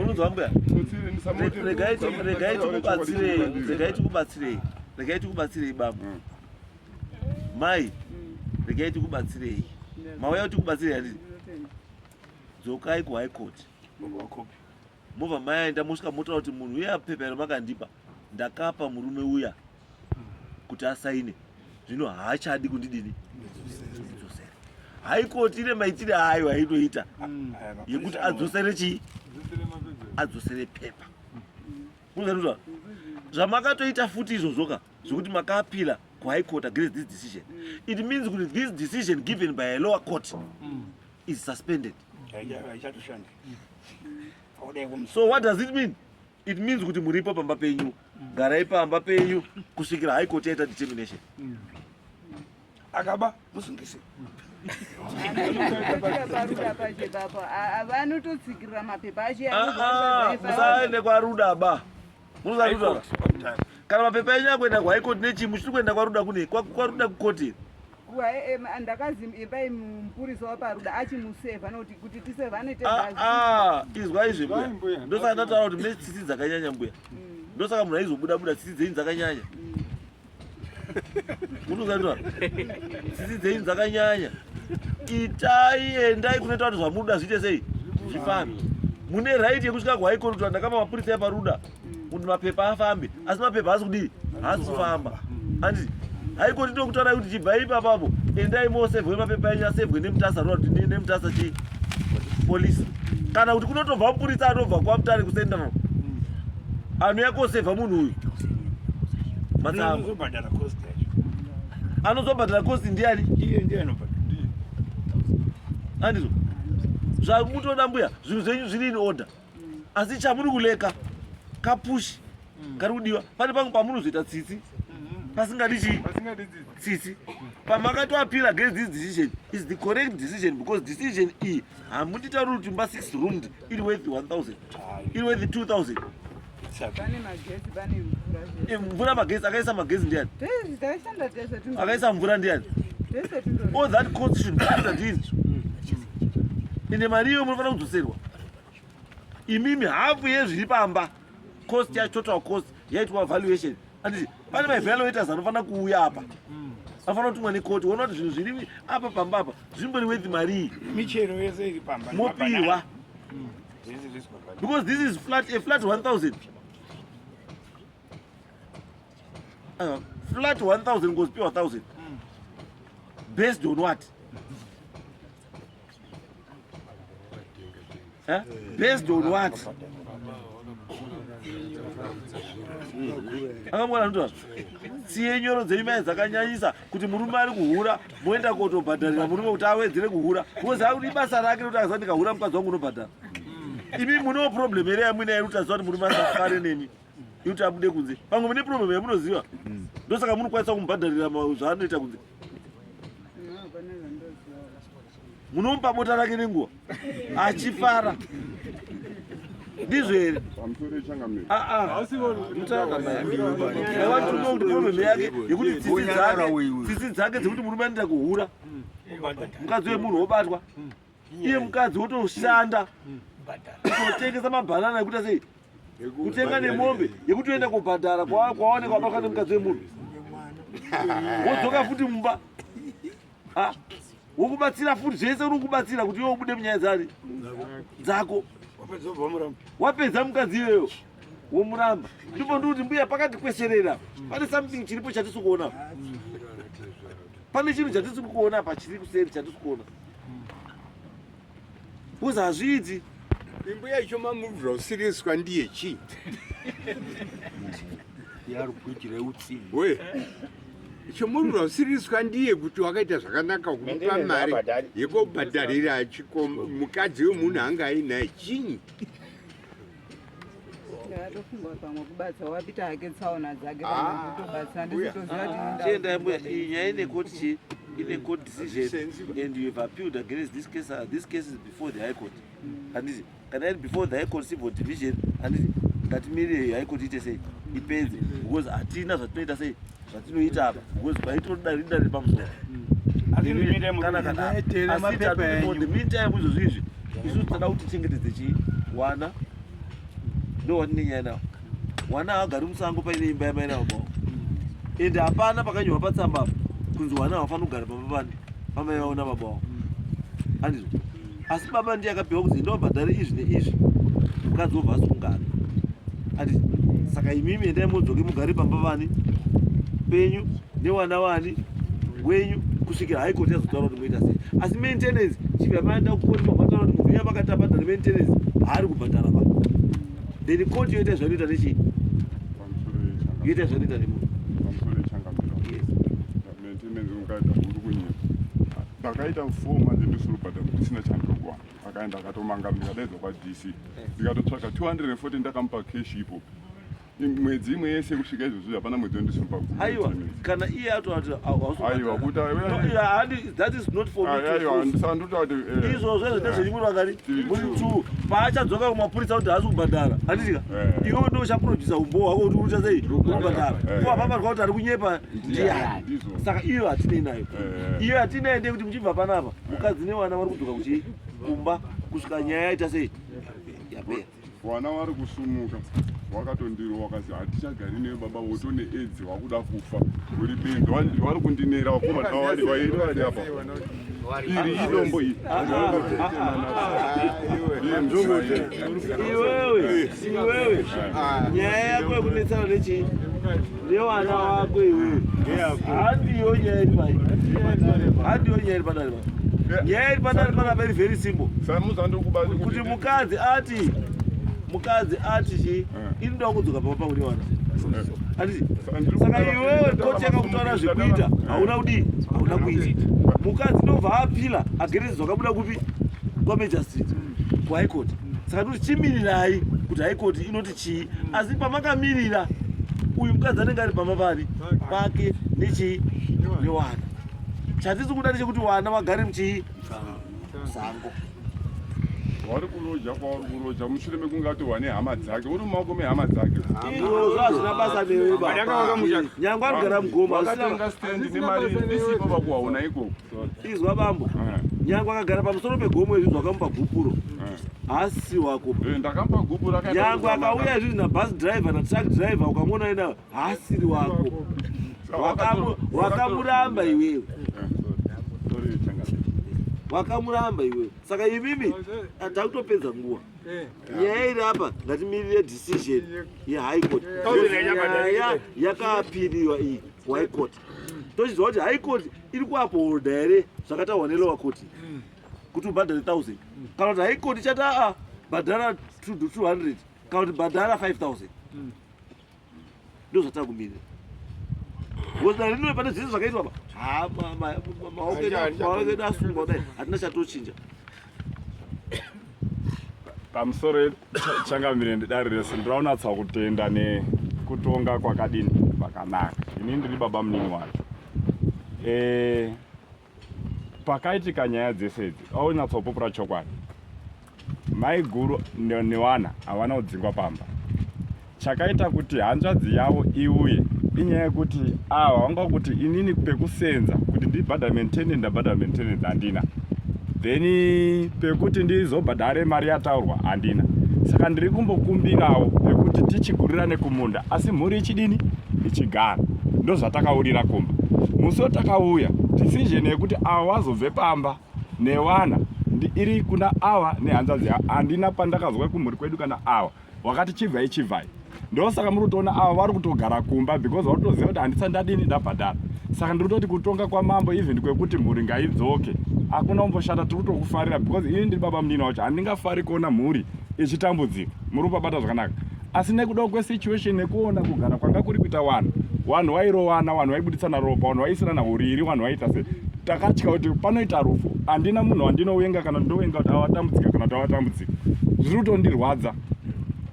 unonzwa mbuya regai tikubatsirei regai tikubatsirei regai tikubatsirei baba mm. mai mm. regai tikubatsirei mauya kuti kubatsirei handii dzokai kuhigh court mobva maenda mosvika motaura kuti munhu uye apepa remakandipa ndakapa murume uya kuti asaine zvino haachadi kundidini ndidzosere haikoti ine maitire ayo ainoita mm. yekuti adzosere chii adzosere pepa kuzaizva zvamakatoita futi izvozvoka zvekuti makaapira kuhigh court against this decision it means kuti this decision given by a lower court mm. is suspended so what does it mean it means kuti muripo pamba penyu garai pamba penyu kusvikira high court yaita determination akaba musungise vanototsikirira mapepa achemusaende kwaruda ba munozaruda kana mapepa enyu akuenda kuhigh court nechii muchiri kuenda kwaruda kune kwaruda kukoti Ah, ah, izwa izvi mbuya ndosaka ndataura kuti mune tsitsi dzakanyanya mbuya mm. ndosaka munhu aizobuda buda tsitsi dzenyu dzakanyanya munozaia mm. tsitsi dzenyu dzakanyanya itai endai kunoita kuti zvamuda zviite sei zvifambi mune right yekusvika kuhaikoti kuti ndakama mapurisa eparuda kuti mapepa afambe asi mapepa haasi kudii haasi kufamba anditi haikoti ndokutarai kuti chibvai ipapapo endai mosevhwe mapepa enyu asevhwe nemutasa road nemutasa chii polisi kana kuti kunotobva mupuritsa anobva kwamutare kucentral anouya kosevha munhu uyu matsaanozobhadhara cost ndiani andizvo zvamutoda mbuya zvinhu zvenyu zviri in order asi chamuri kuleka kapushi mm. kari kudiwa pane pangu pamunozoita tsitsi mm-hmm. pasingadi chii tsitsi pamakatoapira against this decision is the correct decision because decision iyi hamunditauri kuti mba six roomed iri worth 1000 iri worth 2000 eh, mvura magesi akaisa magesi ndiani akaisa mvura ndiani all that cost should be after this mm. ende mari iyo munofanira kudzoserwa imimi hafu yezviri pamba cost yacho total cost yaitwa valuation anditi pane maevaluators anofanira kuuya apa anofanira kutumwa nekoti wona kuti zvinhu zviri apa pamba apa zvimbori wethi marii michero yese iri pamba mopihwa because this is flat a flat 1000 uh, flat 1000 ngozipiwa 1000 based on what Eh? Based on what? akamwana ndoa tsiye nyoro dzenyu mai dzakanyanyisa kuti murume ari kuhura moenda kotobhadharira murume kuti awedzere kuhura kozi audi basa rake rekuti akaza ndikahura mukadzi wangu unobhadhara imi munewo problem here yamuinaye ruti aziva kuti murume asafare nemi yekuti abude kunze pamwe mune problem yamunoziva mm. ndosaka munokwanisa kumubhadharira zvaanoita kunze munomupa bota rake nenguva achifara ndizvo here mutaaaaaiwantunomutonomi yake yekuti tsitsi dzake tsitsi dzake dzekuti murume anoita kuhura mukadzi wemunhu wobatwa iye mukadzi wotoshanda kutotengesa mabhanana ekuti sei kutenga nemombe yekuti oenda kubhadhara kwawaoneka wabatwa nemukadzi wemunhu wodzoka futi mumba wokubatsira futi zvese uri kubatsira kuti iwe ubude munyaya dzani dzako wapedza mukadzi iyoyo womuramba ndipo ndi kuti mbuya pakati kweserera pane something chiripo chatisi kuona pane chinhu chatisi kuona apa chiri kuseri chatisi kuona Kuza hazviiti. Imbuya icho mamubvira usiriswa ndiye chii? Yari kuitira utsi. We. Icho mamubvira usiriswa ndiye kuti wakaita zvakanaka kumupa mari yekobhadharira chiko mukadzi wemunhu anga ainaye chinyi? Ndatofunga pamwe kubatsa wapita hake tsaona dzake ah, kutobatsa ndisitoziva kuti chienda ah, mbuya iyi nyaya ine court chi ine court decision and you have appealed against this case uh, this case is before the high court mm. handiti kana iri before the high court civil division handiti ngatimirire high court ite sei ipedze because hatina zvatinoita sei zvatinoita apa because paitoda rinda riri pamusoro meantime izvozvo izvi isu tinoda kuti tichengetedze chii wana ndo wanine nyaya nawo wana haagari musango paine imba yamai nawo mawo ende hapana pakanyorwa patsamba apa kunzi wana havafanira kugara pamba pani pamai vaona baba wavo andizvo asi baba ndiye akapiwa kuti enda ubhadhare izvi neizvi mukadzi wobva asungana ati saka imimi endai modzoke mugare pamba vani penyu newana wani wenyu kusvikira haikoti yazotaura kuti moita sei asi maintenance chipi amaenda kukoti mabhadhara kuti munhu yamakaiti abhadhare maintenance haari kubhadhara pa then koti yoita zvanoita nechii yoita zvanoita nemunhu ndakaita four months ndisiri kubhadhara ndisina chandokuwana akaenda akatomanga ndikadaidza kwadc ndikatotsvaga 240 ndakamupa cash ipo mwedzi imwe yese kusvika izvozvi hapana mwedzi wandisiri paaiwa kana iye atoatiaiwa kuti anditaura kuti eh, izvozvo ezvo ndezveimwe eh, vakati muri two paachadzoka kumapurisa kuti haasi kubhadhara handitika eh. iwe ndo uchaprodusa umbowo hwako kuti ucha sei kubhadhara ko apaparwa kuti ari kunyepa ndiani saka iyo hatinei nayo eh. iyo hatinei ndekuti muchibva panapa mukadzi nevana vari kudzoka kuchii kumba kusvika nyaya yaita sei yapera vana vari kusumuka wakatondirwa wakazi hatichagari newe baba woto needzi wakuda kufa uri benzi vari kundinera vakomana vavari vairi vari apa iri idombo iri iwewe iwewe nyaya yako yekunetsana nechii Newana wako iwe. Handiyo nyaya iri pai. Handiyo nyaya iri padare pai. Nyaya iri padare pai very very simple. Kuti mukadzi ati mukadzi ati chi eh. inoda kudzoka pamba pauri wana saka iwewe kocheka kutaura zvekuita eh. hauna kudii hauna kuita mukadzi ndobva apila agerezi zvakabuda kupi kwamajastrit kuhaikoti saka toti chimirirai kuti haikoti inoti chii asi pamakamirira uyu mukadzi anenge ari pamba papi pake nechii newana chatisi kuda ndechekuti wana vagare muchii musango wari kuroja kwauri kuroja mushure mekunge atohwa nehama dzake uri mumaoko mehama dzake izvozvo hazvina basa newe nyangwe anogara mugoma akatenga stendi nemari isipo vakuhaona ikoko izwa bambo eh. nyange akagara pamusoro pegomo izvi zvakamupa gupuro eh. haasi wako eh, ndakamupa gupuro nyange akauya izvi nabus driver natruck driver ukamona ina haasiri wako wakamuramba iwewe wakamuramba iwewe saka imimi takutopedza nguva nyaya iri apa ngatimirire decision yehighcourt nyaya yakapiriwa iyi kuhighcourt tochiziva kuti high court iri kuapoholda here zvakataurwa nelower court kuti ubhadhare 1000 kana kuti high court ichati aa bhadhara 200 kana kuti bhadhara 5000 ndo zvatava kumirira goda rino pane zvese zvakaitwa pa maoko edu asungwa kudai hatina chatochinja pamusoro changamire ndidari rese ndiraunatsa kutenda nekutonga kwakadini kwakanaka ini ndiri baba munini wacho e, pakaitika nyaya dzese idzi aunatsopupura chokwadi maiguru newana havana kudzingwa pamba chakaita kuti hanzvadzi yavo iuye inyaya yekuti ava vanga kuti inini pekusenza kuti ndibhadhare maintenance ndabhadhara maintenance handina then pekuti ndizobhadhare mari yataurwa handina saka ndiri kumbokumbirawo pekuti tichigurirane kumunda asi mhuri ichidini ichigara ndozvatakaurira kumba musi watakauya decision yekuti ava vazobve pamba newana iri kuna ava nehanzvadzi yavo handina pandakazwa kumhuri kwedu kana ava wakati chibvai chibvai ndosaka muri kutoona avo vari kutogara kumba because vari kutoziva kuti handisa ndadini ndabhadhara saka ndiri kutoti kutonga kwaMambo even kwekuti mhuri ngaidzoke hakuna kumboshata tiri kutokufarira because ini ndiri baba munini wacho handingafari kuona mhuri ichitambudzika muri kupabata zvakanaka asi nekudawo kwesituation nekuona kugara kwanga kuri kuita wanhu wanhu wairowana wanhu waibuditsana ropa wanhu waisirana uriri wanhu waita se takatya kuti panoita rufu handina munhu wandinowenga kana ndowenga kuti avatambudzika kana kuti avatambudzika zviri kutondirwadza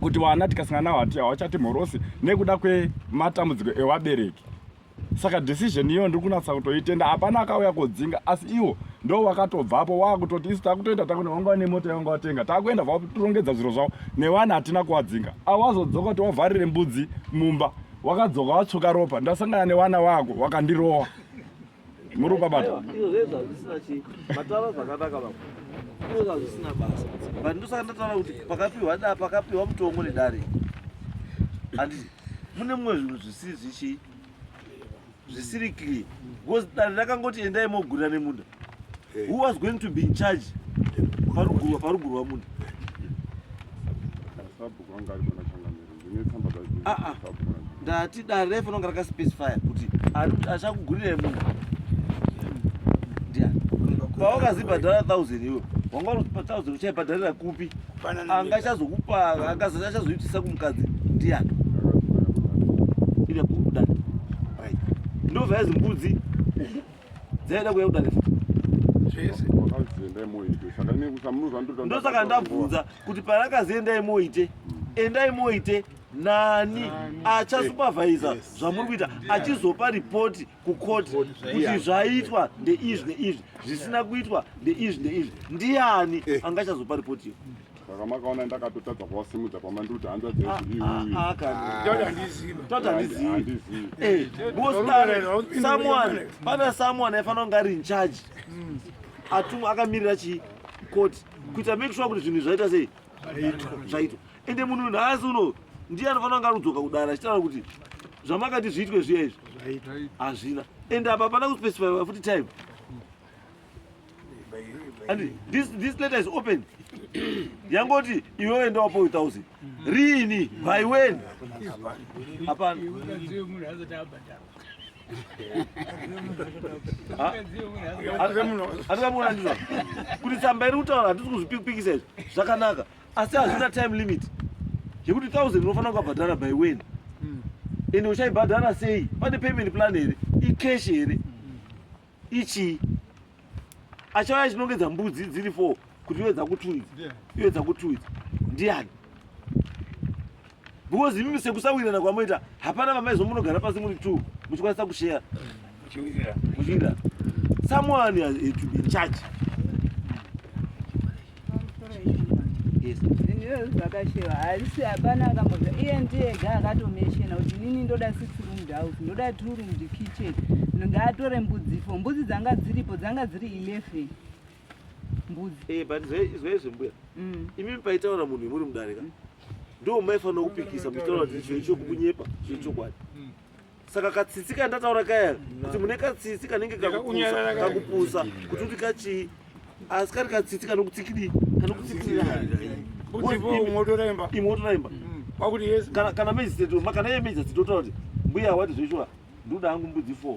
kuti vana tikasangana navo hati hawachati mhorosi nekuda kwematambudziko evabereki saka decision iyo ndiri kunatsa kutoitenda hapana akauya kodzinga asi iwo ndo wakatobvapo wakutoti isu takutoita takune wanga wane mota yawanga watenga takuenda vakutirongedza zviro zvavo nevana hatina kuwadzinga awazodzoka kuti wavharire mbudzi mumba wakadzoka watsvuka ropa ndasangana nevana vako wakandirowa muri ukabata izvo zvezvo hazvisina chii mataura zvakanaka vamwe izvo zvazvisina basa but ndosaka ndataura kuti pakapiwa da pakapiwa mutongo nedare and mune mumwe zvinhu zvisiri zvichii zvisiri clear because dare rakangoti endai mogurira nemunda who was going to be in charge parugurwa parugurwa munda ah, ah. ndati dare refu nonga rakaspecifya kuti achakugurirai munhu paukazibhadhara thousand iwe wanga unozipa thousand uchaibhadharira kupi anga achazokupa akazati achazoitisa kumukadzi ndiyani ida kuda ndovaya zimbudzi Dzaida kuya kudare futi. Zvese. Wakazienda imoite. Saka ne kusamuza ndoda. Ndosaka ndabvunza kuti parakazienda imoite. Enda imoite nani achasupervisa zvamuri kuita achizopa ripoti kukoti kuti zvaitwa ndeizvi neizvi zvisina kuitwa ndeizvi neizvi ndiani eh. angachazopa ripoti iyo Saka makaona ndakatotadza kuvasimudza pamanduti hanza dzedu ah, iwe. Ah, ah, Tata handizivi. Tata handizivi. Eh, Boston, someone, pana someone aifanira kunge ari in charge. Hmm. Atumwa akamirira chi court kuita make sure kuti zvinhu zvaita sei? Zvaitwa. Ende munhu nhasi uno ndiye anofanira kunge arudzoka kudara achitaura kuti zvamakati zviitwe zviya izvi hazvina ende apa hapana kuspecify futi time And this, this letter is open. Yangoti, you will end up with thousand. Rini, by when? Upon. hatikamuna ndizvo kuti tsamba iri kutaura hatisi kuzvipikisa izvi zvakanaka asi hazvina time limit yekuti thousand unofanira kukabhadhara by when hmm. ende uchaibhadhara sei pane payment plan here icash here ichii achauya chinongedza mbudzi dziri fo kuti iwe dzakutuidza iwe dzakutuidza ndiani because imimi sekusawirana kwamoita hapana vamaizo munogara pasi muri two muchikwanisa kusheya muchiwirira someone has to be in charge haisi hapana akamboza iye ndiye ga akatomeshena kuti nini ndoda six room house ndoda two room kitchen ngaatore mbudzi fo mbudzi dzanga dziripo dzanga dziri eleven mbudzi hey, eh, but zvaizvo mbuya mm. imimi paitaura munhu imuri mudarika mm. ndo maifanira kupikisa muchitaura kuti chiro chokunyepa chiro chokwadi mm. saka katsitsi kandataura kaya kuti mune katsitsi kanenge kakupusa kuti kuti kachii asi kari katsitsi kanokutsikidii kanokutsikirira imotoraimba kana meziteto makana ye meziteto totaura kuti mbuya wati zvechoa ndoda hangu mbudzi four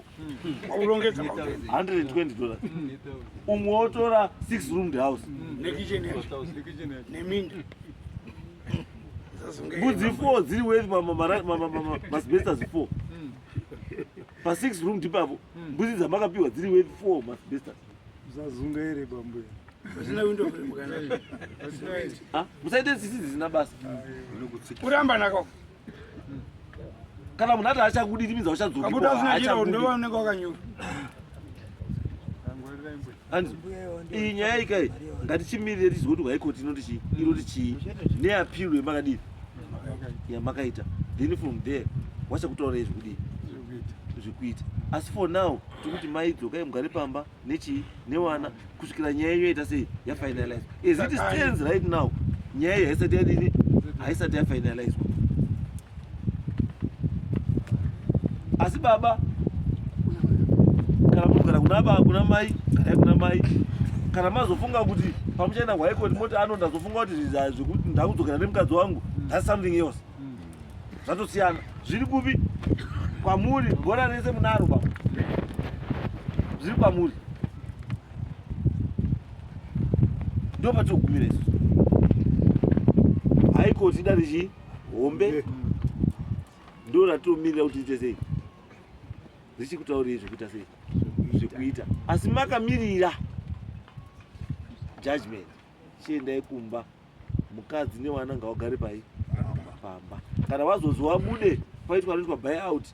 aurongedza hundred and twenty dollars umwe wotora six roomed house neminda mbudzi four dziri worth masbestas four hmm. pa six room ndipavo hmm. mbudzi dzamakapiwa dziri worth four masbestas zazunga here bambuya ah, musaite tsitsi dzisina basa ah, kuramba nako kana munhu ati achakudiri minzi auchadzokiaunenge wakanyura iyi nyaya ika ngatichimirire tizive kuti high court inoti chii inoti chii neappeal yemakadii yamakaita then from there wachakutaurai zvekudii zvekuita asi for now tikuti mai dzokai mugare pamba nechii newana kusvikira nyaya iyo ita sei yafinalizwa as it stands right now nyaya iyo haisati yadini haisati yafinalizwa asi baba kana munogara kuna baba kuna mai garai kuna mai kana mazofunga kuti pamuchaenda kwaikoti moti ano ndazofunga kuti zvekuti ndakudzokera nemukadzi wangu that's something else zvatosiyana zviri kupi kwamuri gora rese munaro baba zviri kwamuri ndo patogumira isu haikoti dare chii hombe ndo ratiomirira kuti ite sei richikutaurei zvekuita sei zvekuita asi makamirira judgment chiendai kumba mukadzi nevana ngavagare pai pamba kana vazonzi wabude paitwa anoitwa buy out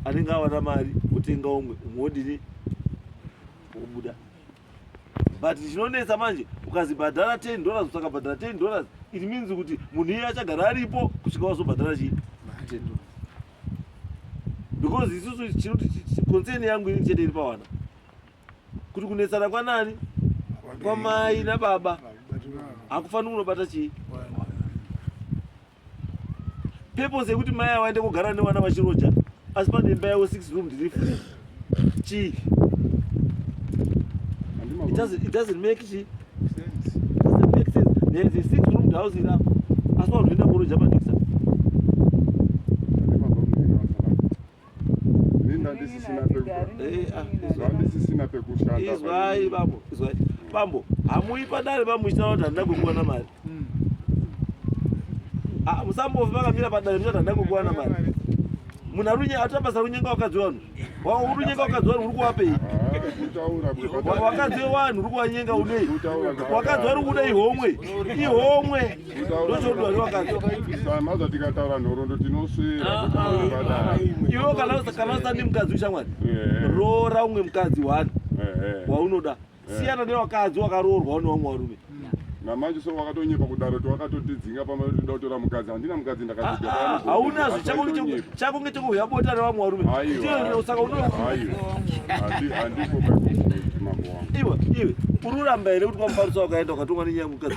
anenge awana mari otenga umwe umwe wodini wobuda but chinonetsa manje ukazibhadhara 10 dollars utakabhadhara 10 dollars it means kuti munhu iye achagara aripo kusvika wazobhadhara chii because isusu chinoticoncern yangu ini chete iri pawana kuti kunetsana kwanani kwamai nababa hakufaniri kunobata chii purpose yekuti mai avo aende kugara nevana vachiroja asi pane imba yavo six room ndiri free chii it doesn't, it doesn't make chi doesn't make sense there is a six room house iri apa asi wanoenda kuroja panisa bambo hamuyi padare bamuchitaura kuti handina kukuwana mari hmm. ah, musambofi vakamira padare muchati handina kukuwana mari munhu arunye atapasa runyenga wakadzi wanhu urunyenga wakadzi wanhu uri kuwapei wakadzi wanhu uri kuwanyenga unei wakadzi wari kuda ihomwe ihomwe maza tikataura nhorondo tinoswera ivo kana usandi mukadzi ushamwari roora umwe mukadzi wani waunoda siyana newakadzi wakaroorwa une vamwe varume namanje so wakatonyepa kudaro ti wakatotidzinga pamatoda kutora mukadzi handina mukadzi ndakaaunazvo chakunge chekuhuya bota revamwe varume saka unohandiko mambo wangu iwe iwe ururamba here kuti kwamufarisa wakaenda ukatumwa nenyaya mukadzi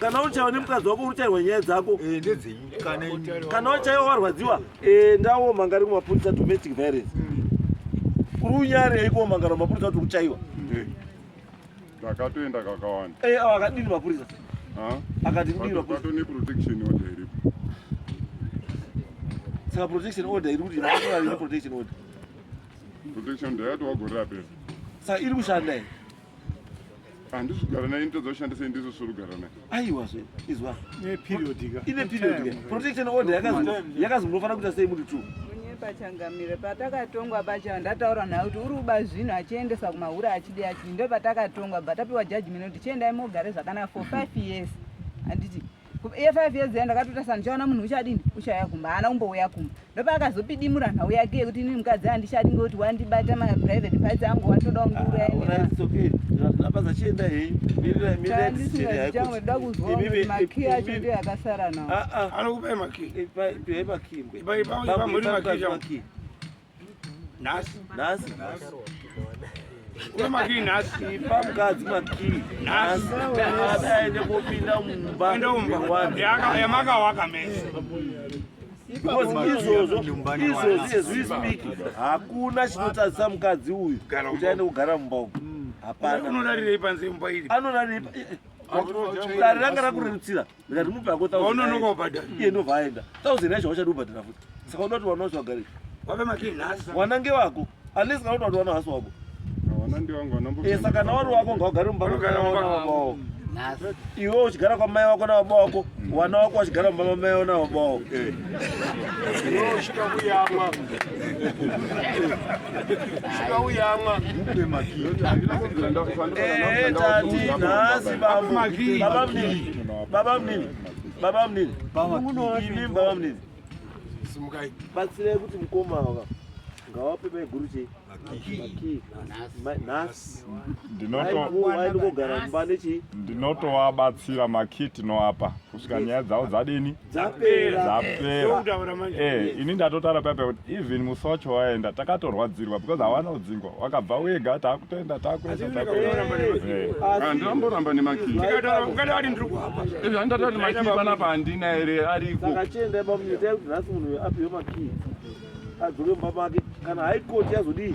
kana uchaiwa nemukadzi wako uruchairwa nyaya dzako eh, kana uchaiwa warwadziwa endawo mangari kumapurisa domestic violence kuri unyari yaiko mangara mapurisa kuti uchaiwa eh, takatoenda kakawanda eh, awa akadini mapurisa akati saka protection order iri kuti protection order protection order yatowagorera pesa saka iri kushanda here handisi kugara naye nditadza kushandisa indiso siri kugara naye aiwa zve izwa ine periodika ine periodika protection order yakazonofanira kuita sei muti two pachangamire patakatongwa pacha ndataura naye kuti uri kuba zvinhu achiendesa kumahura achidi achidi ndo patakatongwa but apiwa judgment kuti chiendai mogare zvakanaka for five years handiti iye five years ya ndakatota sana ndichaona munhu uchadini uchauya kumba haana kumbouya kumba ndopaakazopidimura nhau yake yekuti inini mukadzi handichadi ngekuti wandibata maprivate parts angu watodawo nguuraendaapazachiendaeandisingazichangweda kuzwa makii acho ndiyo akasara nawo anokupai makii ipai makii nhasi nhasi nhasi une makii nhasi ipa mukadzi makii nhasi aende kopinda mumba ende umba yamakawaka mese because izvozvo izvozvo as we speak hakuna chinotadzisa mukadzi uyu kuti aende kugara mumba umu hapana anorarirei panze mumba iri anorarirei dare ranga rakurerutsira ndikati mupe hako thousandononoka ubhadhara iye ndobva aenda thousand yacho wachadi ubhadhara futi saka uda kuti wana wacho wagare wape makii nhasi wana ngewako unless kana uda kuti wana hasi wako eh, saka na wari wako ngaugare mumba mwawo iwe uchigara kwamai wako nababa wako wana wako wachigara mumba mamai wako nababa wako eh. Baba mnini, baba mnini, baba mnini, baba mnini, simukai batsirai kuti mukoma ava ngawape maiguru chei nhasi ndinotogara mumba nechii ndinotowabatsira makiti noapa kusvika nyaya dzavo dzadini Eh, ini ndatotara papa kuti even musi wacho waenda takatorwadzirwa because hawana udzingwa wakabva wega takutoenda takuendaandiramboramba eh. nemakiianapa handina here arikoachiendabamunyetaekutinasimunhuapiwemakii adzoke mumba make kana haikoti yazodii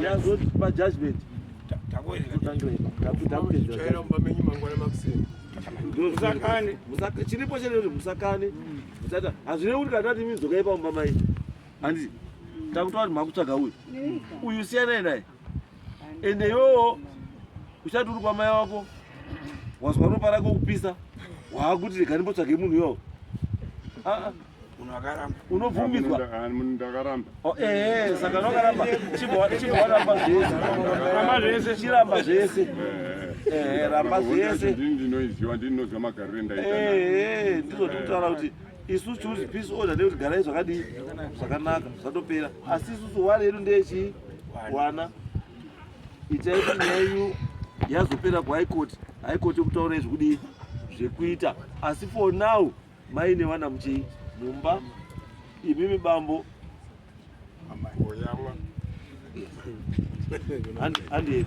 yazopa judgment takuendaa musakane chiripo chete kuti musakane musata hazvirevi kuti kana tati imi dzokai pamumba mai handiti takutaura kuti makutsvaga uyu uyu siyanai naye ende iwewo uchati uri kwamai wako wazwa ropa rako kupisa waakuti rega ndimbotsvage munhu iwawo unokaramba unobvumidzwa ndakaramba oh, eh, eh, saka unokaramba chibowaramba zvese ramba zvese chiramba zvese eh, ramba zvese ndinoiziva ndinoziva magariro endaita ndizvo tikutaura kuti isu choose peace order nekuti garai zvakadii zvakanaka zvatopera asi isusu wari yedu ndeyechii wana itai kuti nyaya yenyu yazopera kuhigh court high court yokutaura izvi kudii zvekuita asi for now Mai nevana muchii mumba imimi bambo amai oyamwa. Handi handi.